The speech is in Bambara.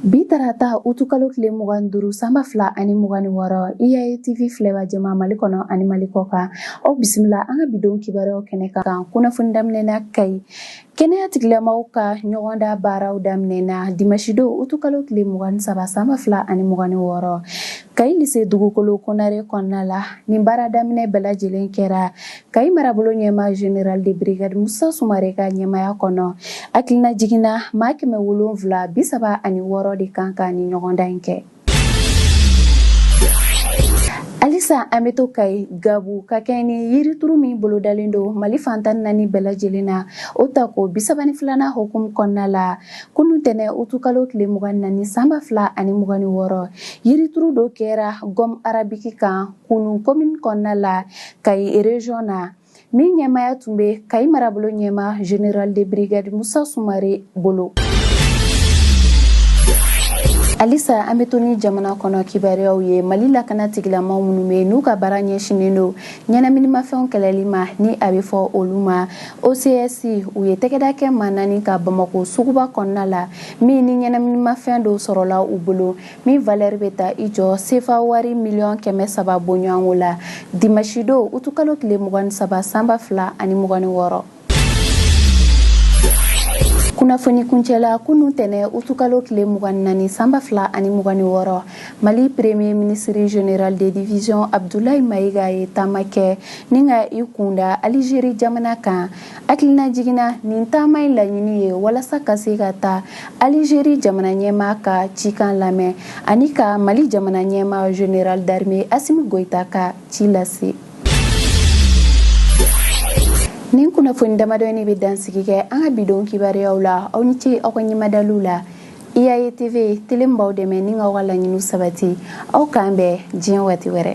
Bi tarata utukalo tile mugan ni duuru sanba fila ani mugan ni wɔɔrɔ IAE TV filɛbagaw mali kɔnɔ ani mali kɔkan aw bisimila an ka bidon kibaruyaw kɛnɛ kan kunnafoni daminɛna kayi kɛnɛyatigilamɔgɔw ka ɲɔgɔndan baaraw daminɛna dimasidon utukalo tile mugan ni saba sanba fila ani mugan ni wɔɔrɔ kayi lise dugukolo konare kɔnɔna la nin baara daminɛ bɛɛ lajɛlen kɛra kayi marabolo ɲɛmaa general de brigade musa sumare ka ɲɛmaaya kɔnɔ hakilina jiginna maa kɛmɛ wolonfila bi saba ani wɔɔrɔ de kan ka nin ɲɔgɔndan in kɛ halisa an bɛ to kayi gabu ka kɛɲɛ ni yirituru min bolodalen don mali fan tan ni naani bɛɛ lajɛlen na o tako bi saba ni filanan hokumu kɔnɔna la kunu tɛnɛ utukalo tile mugan ni naani sanba fila ani mugan ni wɔɔrɔ yirituru dɔ kɛra gɔm arabiki kan kulun komini kɔnɔna la kayi rezɔn na min ɲɛmaaya tun bɛ kayi marabolo ɲɛmaa general de brigade musa sumare bolo halisa an bɛ to ni jamana kɔnɔ kibaruyaw ye mali lakana tigilama minnu bɛ n'u ka baara ɲɛsinnen don ɲɛnaminimafɛnw kɛlɛli ma ni a bɛ fɔ olu ma ocs u ye tɛgɛda kɛ maa naani kan bamakɔ suguba kɔnɔna la min ni ɲɛnaminimafɛn dɔw sɔrɔla u bolo min valɛri bɛ taa i jɔ sefa wari miliyɔn kɛmɛ saba bɔɲɔgɔnko la dimasidon utukalo tile mugan ni saba sanba fila ani mugan ni wɔɔrɔ kunnafoni kuncɛla kunu tɛnɛ utukalo tile mugan ni naani sanba fila ani mugan ni wɔɔrɔ mali premier minisiri general de division abdulayi mayiga ye taama kɛ ni ka i kunda alizeri jamana kan Hakilina jiginna nin taama in laɲini ye walasa ka se ka taa Alizeri jamana ɲɛmaa ka cikan lamɛn ani ka Mali jamana ɲɛmaa General d'armee Asimi Goyita ka ci lase. Nin kunnafoni damadɔ in bɛ dansigi kɛ an ka bidon kibaruyaw la aw ni ce aw ka ɲɛmadali la IAE TV tele min b'aw dɛmɛ ni k'aw ka laɲiniw sabati aw k'an bɛn diɲɛ waati wɛrɛ.